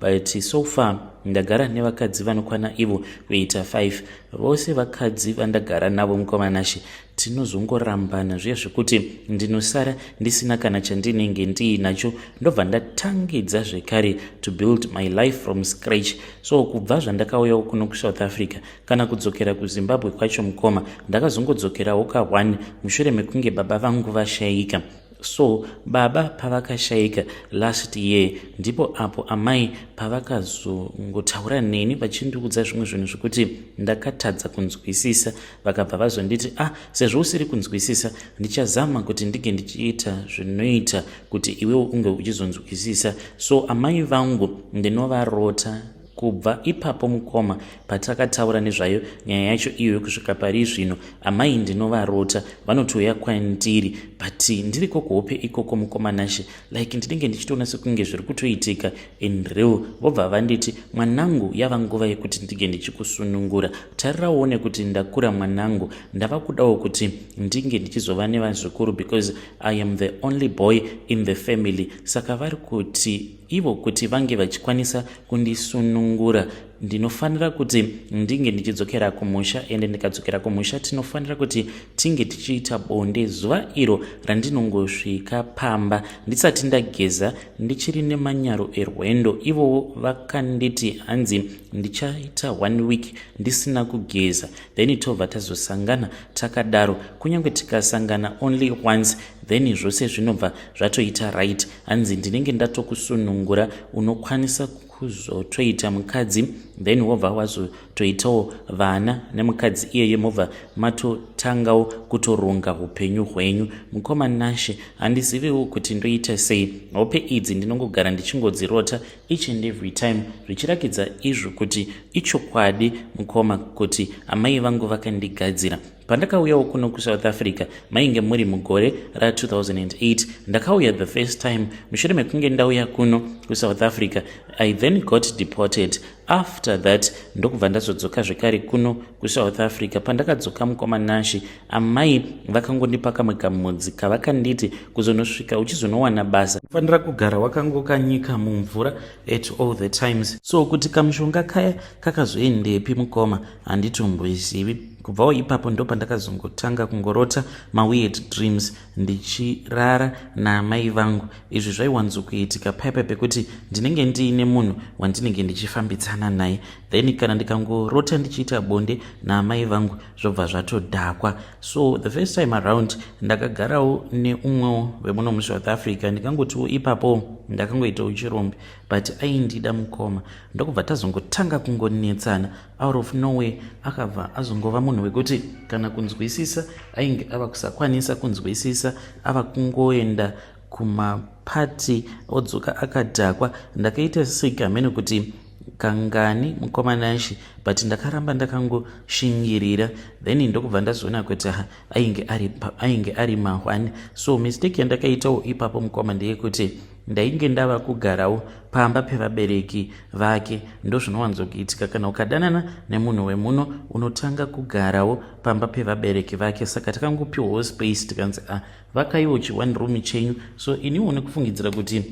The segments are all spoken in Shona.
but so far ndagara nevakadzi vanokwana ivo kuita 5 vose vakadzi vandagara navo mukomanashe tinozongorambana zviya zvekuti ndinosara ndisina kana chandinenge ndiinacho ndobva ndatangidza zvekare to build my life from scratch so kubva zvandakauyawo kuno kusouth africa kana kudzokera kuzimbabwe kwacho mukoma ndakazongodzokerawo ka1 mushure mekunge baba vangu vashaika So baba pavakashaika last year ndipo apo amai pavakazongotaura neni vachindiudza zvimwe zvinhu zvekuti ndakatadza kunzwisisa vakabva vazonditi ah sezvo usiri kunzwisisa ndichazama kuti ndige ndichiita zvinoita kuti iwewo unge uchizonzwisisa so amai vangu ndinovarota Kubva ipapo mukoma patakataura nezvayo nyaya yacho iyoyo kusvika pari zvino amai ndinovarota vanotouya kwandiri but ndiriko kuhope ikoko mukoma nashe like ndinenge ndichitoona sekunge zviri kutoitika in real vobva vanditi mwanangu yava nguva yekuti ndinge ndichikusunungura tarira uone kuti ndakura mwanangu ndava kudawo kuti ndinge ndichizova nevazukuru because i am the only boy in the family saka vari kuti ivo kuti vange vachikwanisa kundisunungura ndinofanira kuti ndinge ndichidzokera kumusha ende ndikadzokera kumusha tinofanira kuti tinge tichiita bonde zuva iro randinongosvika pamba ndisati ndageza ndichiri nemanyaro erwendo ivowo vakanditi hanzi ndichaita one week ndisina kugeza then tobva tazosangana takadaro kunyange tikasangana only once then zvose zvinobva zvatoita right hanzi ndinenge ndatokusunungura unokwanisa kuzotoita mukadzi then wobva wazotoitawo vana nemukadzi iyeye mobva matotangawo kutoronga upenyu hwenyu mukoma nashe handiziviwo kuti ndoita sei hope idzi ndinongogara ndichingodzirota each and every time zvichirakidza izvo kuti ichokwadi mukoma kuti amai vangu vakandigadzira pandakauyawo kuno kusouth africa mainge muri mugore ra2008 ndakauya the first time mushure mekunge ndauya kuno kusouth africa i then got deported after that ndokubva ndazodzoka zvekare kuno kusouth africa pandakadzoka mukoma nashi amai vakangondipa kamwe kamudzi kavakanditi kuzonosvika uchizonowana basa fanira kugara wakangokanyika mumvura at all the times so kuti kamushonga kaya kakazoendepi mukoma handitombwizivi kubvawo ipapo ndopandakazongotanga kungorota maweird dreams ndichirara naamai vangu izvi zvaiwanzokuitika paipa pekuti ndinenge ndiine munhu wandinenge ndichifambidzana naye then kana ndikangorota ndichiita bonde naamai vangu zvobva zvatodhakwa so the first time around ndakagarawo neumwewo vemuno musouth africa ndikangotiwo ipapo ndakangoitawo chirombe but aindida mukoma ndokubva tazongotanga kungonetsana out of nowhere akabva azongova munhu wekuti kana kunzwisisa ainge ava kusakwanisa kunzwisisa ava kungoenda kumapati odzoka akadhakwa ndakaita sega mene kuti kangani mukoma nashi but ndakaramba ndakangoshingirira then ndokubva ndazoona kuti ha ainge ari, ainge ari mahwani so mistake yandakaitawo ipapo mukoma ndeyekuti Ndainge ndava kugarawo pamba pevabereki vake ndozvinowanzokuitika kana ukadanana nemunhu wemuno unotanga kugarawo pamba pevabereki vake saka takangopiwawo space tikanzi a ah, vakaiwo chi one room chenyu so iniwo nekufungidzira kuti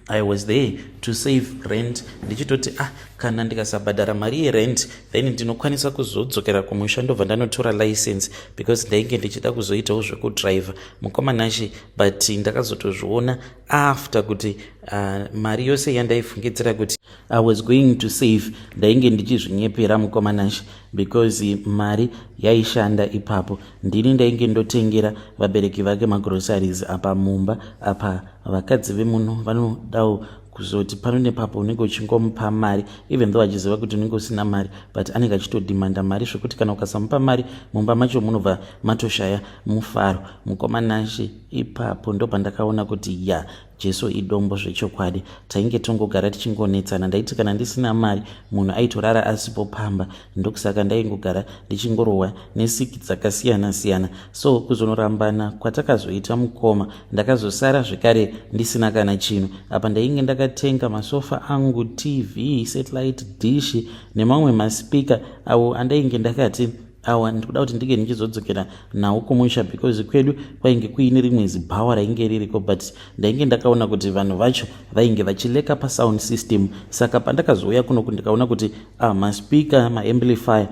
i was there to save rent ndichitoti ah kana ndikasabhadhara mari yerent then ndinokwanisa kuzodzokera kumusha ndobva ndanotora license because ndainge ndichida kuzoitawo zvekudriver mukoma nashe but ndakazotozviona after kuti uh, mari yose yandaifungidzira kuti i was going to save ndainge ndichizvinyepera mukoma nashe because mari yaishanda ipapo ndini ndainge ndotengera vabereki vake magroceries apa mumba apa vakadzi vemuno vanodawo kuzoti pano nepapo unenge uchingomupa mari even though achiziva kuti unenge usina mari but anenge achitodhimanda mari zvekuti kana ukasamupa mari mumba macho munobva matoshaya Mufaro, mukoma Nashe, ipapo ndopandakaona kuti ya Jesu idombo zvechokwadi. Tainge tongogara tichingonetsana, ndaiti kana ndisina mari munhu aitorara asipo pamba, ndokusaka ndaingogara ndichingorohwa nesiki dzakasiyana siyana. So kuzonorambana kwatakazoita mukoma, ndakazosara zvekare ndisina kana chinhu. Apa ndainge ndakatenga masofa angu, TV, satellite dish nemamwe maspeaker awo andainge ndakati awa ndiri kuda kuti ndinge ndichizodzokera nawo kumusha because kwedu kwainge kuine rimwe zibhawa rainge ririko but ndainge ndakaona kuti vanhu vacho vainge vachileka pasound system saka pandakazouya kunoku ndikaona kuti ah, maspeaker maamplifier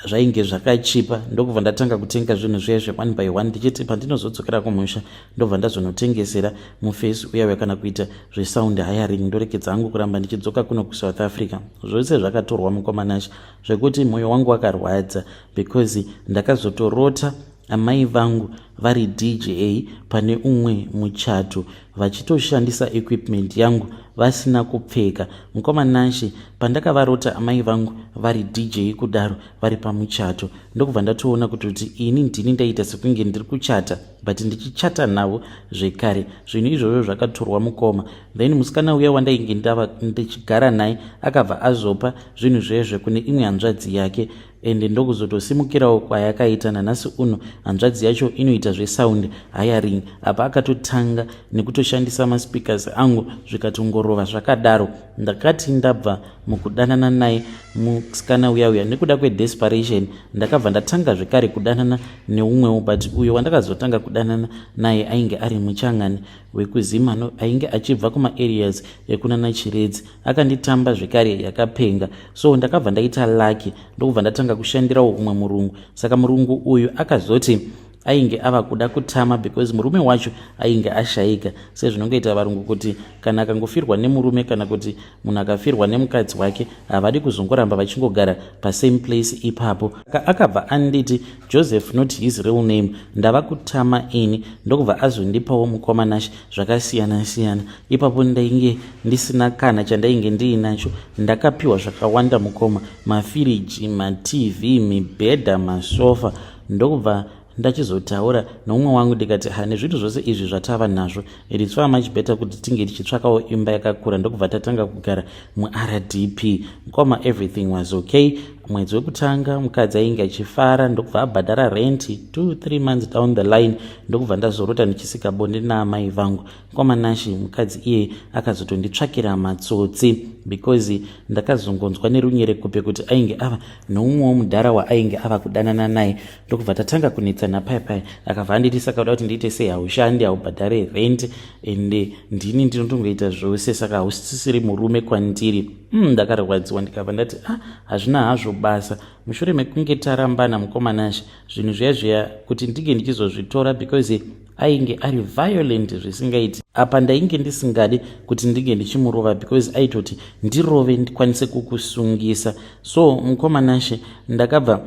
zvainge zvakachipa ndokubva ndatanga kutenga zvinhu zviya zveone by one ndichiti pandinozodzokera kumusha ndobva ndazonotengesera mufesi uya uya kana kuita zvesound hiring ndorekedza angu kuramba ndichidzoka kuno kusouth africa zvose zvakatorwa mukomanash zvekuti mwoyo wangu wakarwadza because ndakazotorota amai vangu vari dja pane umwe muchato vachitoshandisa equipment yangu vasina kupfeka mukoma nashe pandakavarota amai vangu vari dj kudaro vari pamuchato ndokubva ndatoona kutoti ini ndini ndaita sekunge ndiri kuchata but ndichichata navo zvekare zvinhu izvozvo zvakatorwa mukoma then musikana uya wandainge ndava ndichigara naye akabva azopa zvinhu zvezve kune imwe hanzvadzi yake ende ndokuzotosimukirawo kwayakaita nanhasi uno hanzvadzi yacho inoita zvesound hiring apa akatotanga nekutoshandisa maspeakers angu zvikatongorova zvakadaro ndakati ndabva mukudanana naye musikana uya uya nekuda kwedesperation ndakabva ndatanga zvekare kudanana neumwewo but uyo wandakazotanga kudanana naye ainge ari muchangani wekuzimano ainge achibva kumaareas ekunana chiredzi akanditamba zvekare yakapenga so ndakabva ndaita lucky ndokubva ndatanga kushandirawo umwe murungu saka murungu uyu akazoti ainge ava kuda kutama because murume wacho ainge ashayika sezvinongoita varungu kuti kana akangofirwa nemurume kana kuti munhu akafirwa nemukadzi wake havadi kuzongoramba vachingogara pasame place ipapo ka akabva anditi joseph not his real name ndava kutama ini ndokubva azondipawo mukoma nashe zvakasiyana siyana ipapo ndainge ndisina kana chandainge ndiinacho ndakapiwa zvakawanda mukoma mafiriji matv mibhedha masofa ndokubva ndachizotaura nomumwe wangu ndikati ha nezvinhu zvose izvi zvatava nazvo its far much better kuti tinge tichitsvakawo imba yakakura ndokubva tatanga kugara muRDP mukoma everything was okay mwedzi wekutanga mukadzi ainge achifara ndokubva abhadhara renti two three months down the line ndokubva ndazorota ndichisika bonde naamai vangu mukoma nashe mukadzi iye akazotonditsvakira matsotsi because ndakazongonzwa nerunyerekupe kuti ainge ava noumwewo mudhara waainge ava kudanana naye ndokubva tatanga kunetsana paya paya akabva andirisa kauda kuti ndiite sei haushandi haubhadhare rent and ndini ndinotongoita zvose saka hausisiri murume kwandiri mm, ndakarwadziwa ndikabva ndati a ah, hazvina hazvo basa mushure mekunge tarambana mukoma nashe zvinhu zviya zviya kuti ndinge ndichizozvitora because ainge ari violent zvisingaiti apa ndainge ndisingade kuti ndinge ndichimurova because aitoti ndirove ndikwanise kukusungisa so mukoma nashe ndakabva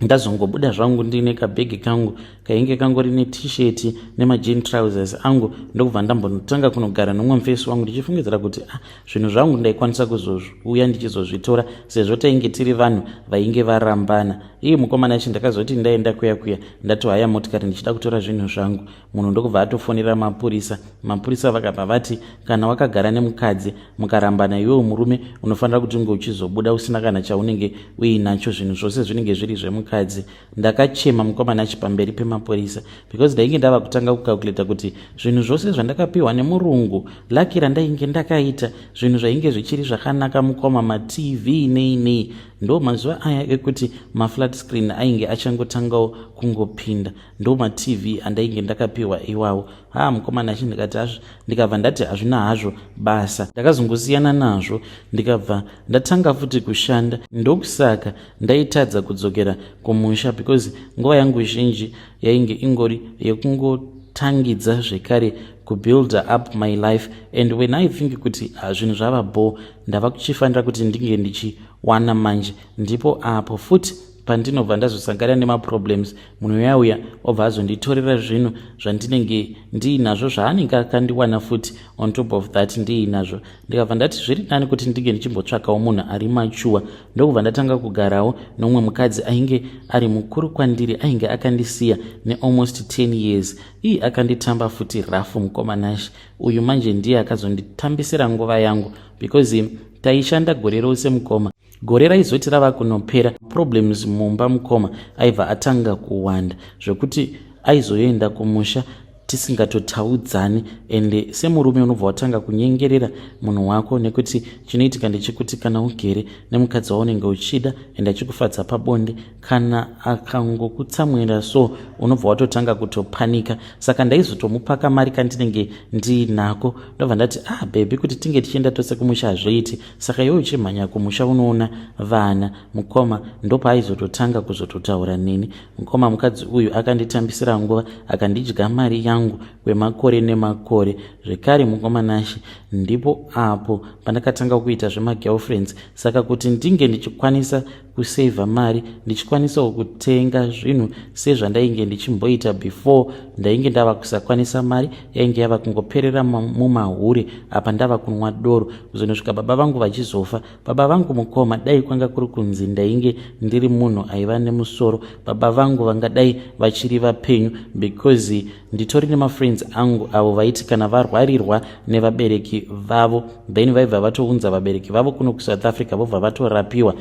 ndazongobuda zvangu ndiine kabhegi kangu kainge kangori netisheti nemajin trousers angu ndokubva ndambonotanga kunogara nomumfesi wangu ndichifungidzira kuti ah, zvinhu zvangu ndaikwanisa kuzouya ndichizozvitora sezvo tainge tiri vanhu vainge varambana iye mukomana yacho ndakazoti ndaenda kuya kuya ndatohaya motikari ndichida kutora zvinhu zvangu munhu ndokubva atofonera mapurisa mapurisa vakabva vati kana wakagara nemukadzi mukarambana iwewo murume unofanira kuti unge uchizobuda usina kana chaunenge uinacho zvinhu zvose zvinenge zviri zvemukadzi ndakachema mukoma nachi pamberi pemapurisa because ndainge ndava kutanga kucalculator kuti zvinhu zvose zvandakapiwa nemurungu laki randainge ndakaita zvinhu zvainge zvichiri zvakanaka mukoma matv nei nei ndo mazuva aya ekuti maflat screen ainge achangotangawo kungopinda ndo matv andainge ndakapiwa iwawo haa mukoma nachi ndikati hazvo ndikabva ndati hazvina hazvo basa ndakazongosiyana nazvo ndikabva ndatanga futi kushanda ndokusaka ndaitadza kudzokera kumusha because nguva yangu zhinji yainge ingori yekungotangidza zvekare kubuilder up my life and when i think kuti ah, zvinhu zvava bho ndava kuchifanira kuti ndinge ndichiwana manje ndipo apo futi pandinobva ndazosangana nemaproblems munhu uyauya obva azonditorera zvinhu zvandinenge ndiinazvo zvaanenge akandiwana futi on top of that ndiinazvo ndikabva ndati zviri nani kuti ndinge ndichimbotsvakawo munhu ari machuwa ndokubva ndatanga kugarawo nomwe mukadzi ainge ari mukuru kwandiri ainge akandisiya nealmost 10 years ii akanditamba futi rafu mukoma nash uyu manje ndiye akazonditambisira nguva yangu because taishanda gore rose mukoma gore raizoti rava kunopera problems mumba mukoma aibva atanga kuwanda zvekuti aizoenda kumusha tisingatotaudzani ende semurume unobva watanga kunyengerera munhu wako nekuti chinoitika ndechekuti kana ugere nemukadzi waunenge uchida ende achikufadza pabonde kana akangokutsamwira so unobva watotanga kutopanika saka ndaizotomupaka mari kandinenge ndiinako ndobva ndati ah bhebhi kuti tinge tichienda tose kumusha hazvoiti Saka iwe uchimhanya kumusha unoona vana mukoma ndopaaizototanga kuzototaura neni. Mukoma mukadzi uyu akanditambisira nguva akandidya mari yangu kwemakore nemakore. Zvekare mukoma Nashe ndipo apo pandakatanga kuita zvemagirlfriends saka kuti ndinge ndichikwanisa kusaver mari ndichikwanisawo kutenga zvinhu sezvandainge ndichimboita before ndainge ndava kusakwanisa mari yainge yava kungoperera mumahure apa ndava kunwa doro kuzonosvika baba vangu vachizofa baba vangu mukoma dai kwanga kuri kunzi ndainge ndiri munhu aiva nemusoro baba vangu vangadai vachiri vapenyu because nditori nemafriends angu avo vaiti kana varwarirwa nevabereki vavo then vaibva vatounza vabereki vavo kuno kusouth africa vobva vatorapiwa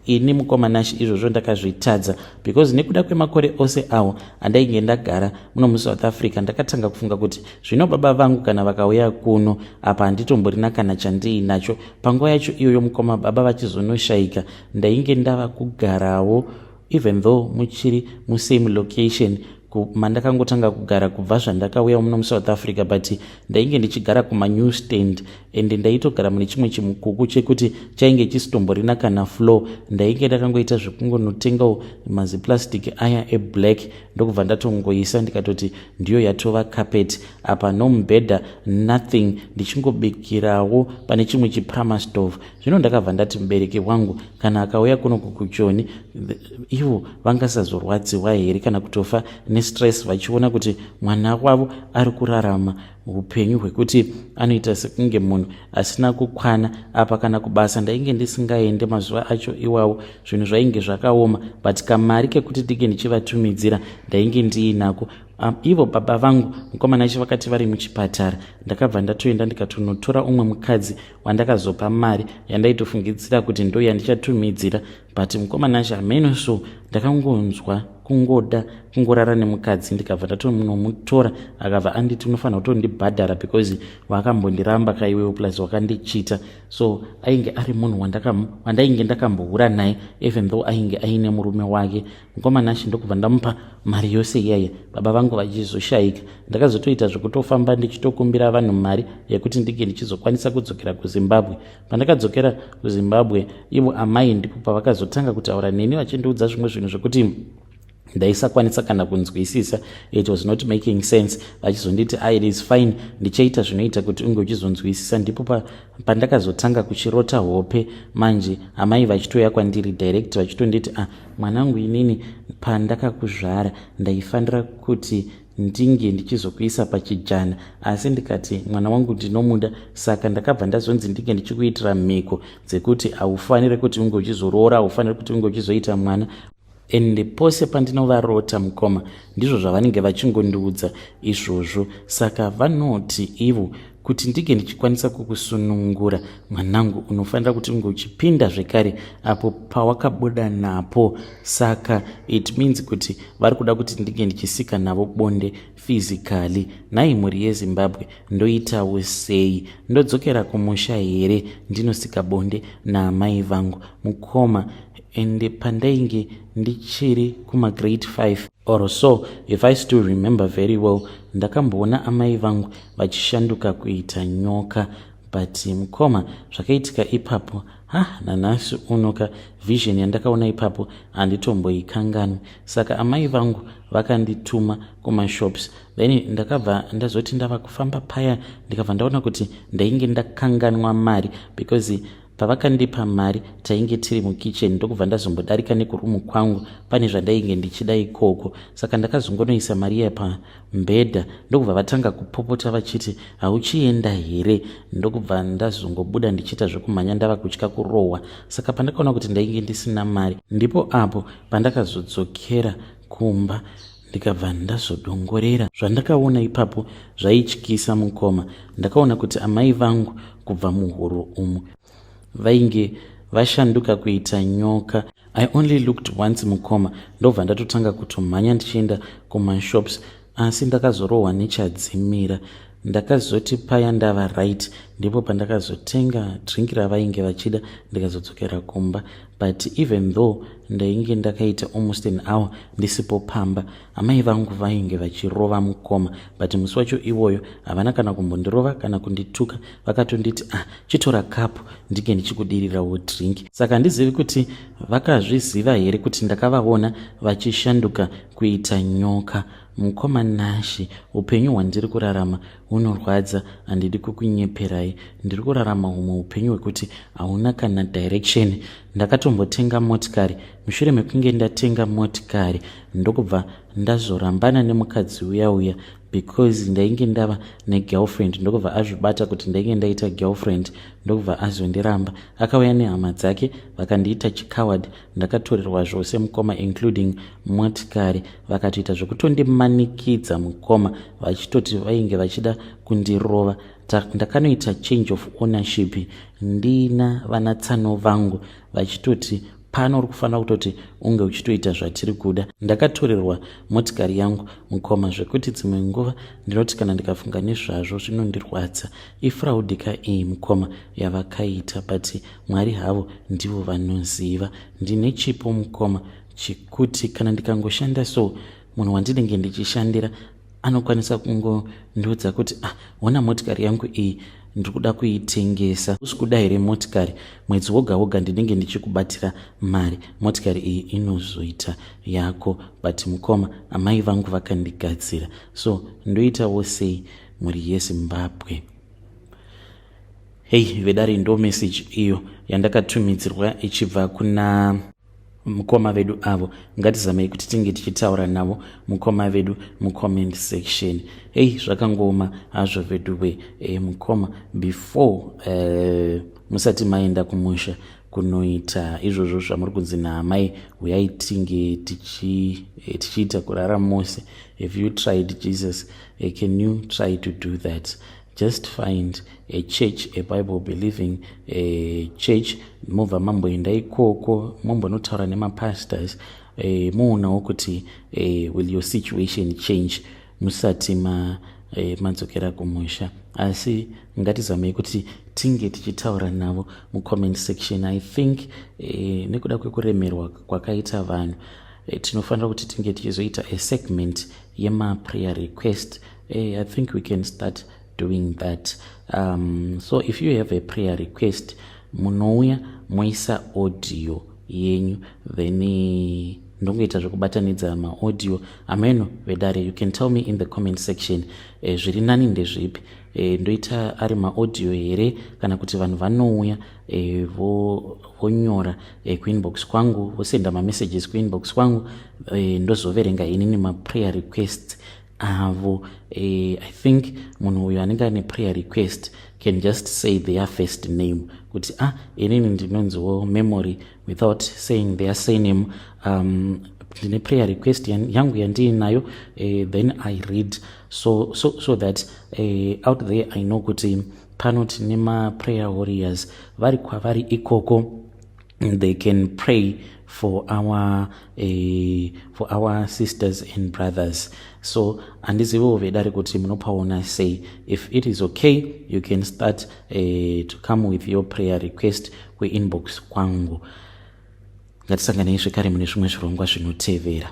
ini mukoma nash izvozvo ndakazvitadza because nekuda kwemakore ose awo andainge ndagara muno musouth africa ndakatanga kufunga kuti zvino baba vangu kana vakauya kuno apa handitomborina kana chandiinacho panguva yacho iyoyo mukoma baba vachizonoshayika ndainge ndava kugarawo even though muchiri musame location mandakangotanga kugara kubva zvandakauya muno musouth africa but ndainge ndichigara kumanew stand and ndaitogara mune chimwe chimukuku chekuti chainge chisitomborina kana flow ndainge ndakangoita zvekungonotengawo maziplastic aya eblack ndokubva ndatongoisa ndikatoti ndiyo yatova carpet apa no mubhedha nothing ndichingobikirawo pane chimwe chiprama stove zvino ndakabva ndati mubereki wangu kana akauya kuno kukuchoni ivo vangasazorwadziwa here kana kutofa nestress vachiona kuti mwana wavo ari kurarama upenyu hwekuti anoita sekunge munhu asina kukwana apa kana kubasa ndainge ndisingaende mazuva acho iwawo zvinhu zvainge zvakaoma but kamari kekuti ndinge ndichivatumidzira ndainge ndiinako Um, ivo baba vangu mukomana chi vakati vari muchipatara ndakabva ndatoenda ndikatonotora umwe mukadzi wandakazopa mari yandaitofungidzira kuti ndo yandichatumidzira but mukoma nashe hameno so ndakangonzwa kungoda kungorara nemukadzi ndikabva ndatonomutora akabva anditi unofanira kutondibhadhara because wakambondiramba kaiwewo plus wakandichita so ainge ari munhu wandainge ndakambohura naye even though ainge aine murume wake mukoma nashe ndokubva ndamupa mari yose iyaye baba vangu vachizoshaika ndakazotoita zvekutofamba ndichitokumbira vanhu mari yekuti ndinge ndichizokwanisa kudzokera kuzimbabwe pandakadzokera kuzimbabwe ivo amai ndipo pavakazotanga kutaura neni vachindiudza zvimwe zvinhu zvekuti ndaisakwanisa kana kunzwisisa it was not making sense vachizonditi ah, it is fine ndichaita zvinoita kuti unge uchizonzwisisa ndipo pandakazotanga kuchirota hope manje amai vachitouya kwandiri direct vachitonditi a ah, mwanangu inini pandakakuzvara ndaifanira kuti ndinge ndichizokuisa pachijana asi ndikati mwana wangu ndinomuda saka ndakabva ndazonzi ndinge ndichikuitira mhiko dzekuti haufanire kuti unge uchizoroora haufanire kuti unge uchizoita mwana ende pose pandinovarota mukoma ndizvo zvavanenge vachingondiudza izvozvo saka vanoti ivo kuti ndinge ndichikwanisa kukusunungura mwanangu unofanira kuti unge uchipinda zvekare apo pawakabuda napo saka it means kuti vari kuda kuti ndinge ndichisika navo bonde physically nhai mhuri yezimbabwe ndoitawo sei ndodzokera kumusha here ndinosika bonde naamai vangu mukoma ende pandainge ndichiri kumagrade 5 or so if i still remember very well ndakamboona amai vangu vachishanduka kuita nyoka but mukoma zvakaitika ipapo ha nanhasi uno ka vision yandakaona ipapo handitomboikanganwi saka amai vangu vakandituma kumashops then ndakabva ndazoti ndava kufamba paya ndikabva ndaona kuti ndainge ndakanganwa mari because pavakandipa mari tainge tiri mukitchen ndokubva ndazombodarika nekurumu kwangu pane zvandainge ndichida ikoko saka ndakazongonoisa mari iya Mbeda ndokubva vatanga kupopota vachiti hauchienda here ndokubva ndazongobuda ndichiita zvekumhanya ndava kutya kurohwa saka pandakaona kuti ndainge ndisina mari ndipo apo pandakazodzokera kumba ndikabva ndazodongorera zvandakaona ipapo zvaityisa mukoma ndakaona kuti amai vangu kubva muhuru umu vainge vashanduka kuita nyoka i only looked once mukoma ndobva ndatotanga kutomhanya ndichienda kumashops asi ndakazorohwa nechadzimira ndakazoti paya ndava right ndipo pandakazotenga drink ravainge vachida ndikazodzokera kumba but even though ndainge ndakaita almost an hour ndisipo pamba amai vangu vainge vachirova mukoma but musi wacho iwoyo havana kana kumbondirova kana kundituka vakatonditi ah chitora kapu ndinge ndichikudirirawo drink saka handizivi kuti vakazviziva here kuti ndakavaona vachishanduka kuita nyoka mukoma nashi upenyu hwandiri kurarama hunorwadza handidi kukunyeperai ndiri kurarama humwe upenyu hwekuti hauna kana direction ndakatombotenga motikari mushure mekunge ndatenga motikari ndokubva ndazorambana nemukadzi uya uya because ndainge ndava negirlfriend ndokubva azvibata kuti ndainge ndaita girlfriend ndokubva azondiramba akauya nehama dzake vakandiita chicoward ndakatorerwa zvose mukoma including motikari vakatoita zvekutondimanikidza mukoma vachitoti vainge vachida kundirova ndakanoita change of ownership ndina vanatsano vangu vachitoti pano uri kufanira kutoti unge uchitoita zvatiri kuda ndakatorerwa motikari yangu mukoma zvekuti dzimwe nguva ndinoti kana ndikafunga nezvazvo zvinondirwadza ifraudi ka iyi mukoma yavakaita but mwari havo ndivo vanoziva ndine chipo mukoma chekuti kana ndikangoshanda so munhu wandinenge ndichishandira anokwanisa kungondiudza kuti ah hona motikari yangu iyi ndiri kuda kuitengesa usi kuda here motikari mwedzi woga woga ndinenge ndichikubatira mari motikari iyi inozoita yako but mukoma amai vangu vakandigadzira so ndoitawo sei mhuri yezimbabwe hei vedare ndo meseji iyo yandakatumidzirwa ichibva kuna mukoma vedu avo ngatizamei kuti tinge tichitaura navo mukoma vedu mucomment section hei zvakangooma hazvo vedu we e, mukoma before uh, musati maenda kumusha kunoita izvozvo zvamuri kunzi naamai huyai tinge eh, tichiita kurara mose have you tried jesus eh, can you try to do that just find a church a bible believing a church mobva mamboenda ikoko mombonotaura nemapastors eh, moonawo kuti eh, will your situation change musati ma eh, madzokera kumusha asi ngatizamei kuti tinge tichitaura navo mucomment section i think eh, nekuda kwekuremerwa kwakaita vanhu eh, tinofanira kuti tinge tichizoita asegment yemaprayer request Hey, I think we can start doing that. Um, so if you have a prayer request, munouya moisa audio yenyu then eh, ndongoita zvekubatanidza maaudio ameno vedare you can tell me in the comment section e, zviri nani ndezvipi e, ndoita ari maaudio here kana kuti vanhu vanouya e, vonyora e, kuinbox kwangu vosenda mamessages kuinbox kwangu e, ndozoverenga inini maprayer requests avo uh, i think munhu uyo anenge ane prayer request can just say their first name kuti ah inini ndinonziwo memory without saying their surname um, ndine prayer request yangu yandiinayo uh, then i read so, so, so that uh, out there i know kuti pano tine maprayer warriors vari kwavari ikoko they can pray for our uh, for our sisters and brothers so handiziviwo vedare kuti munopaona sei if it is okay you can start uh, to come with your prayer request kuinbox kwangu ngatisanganei zvekare mune zvimwe zvirongwa zvinotevera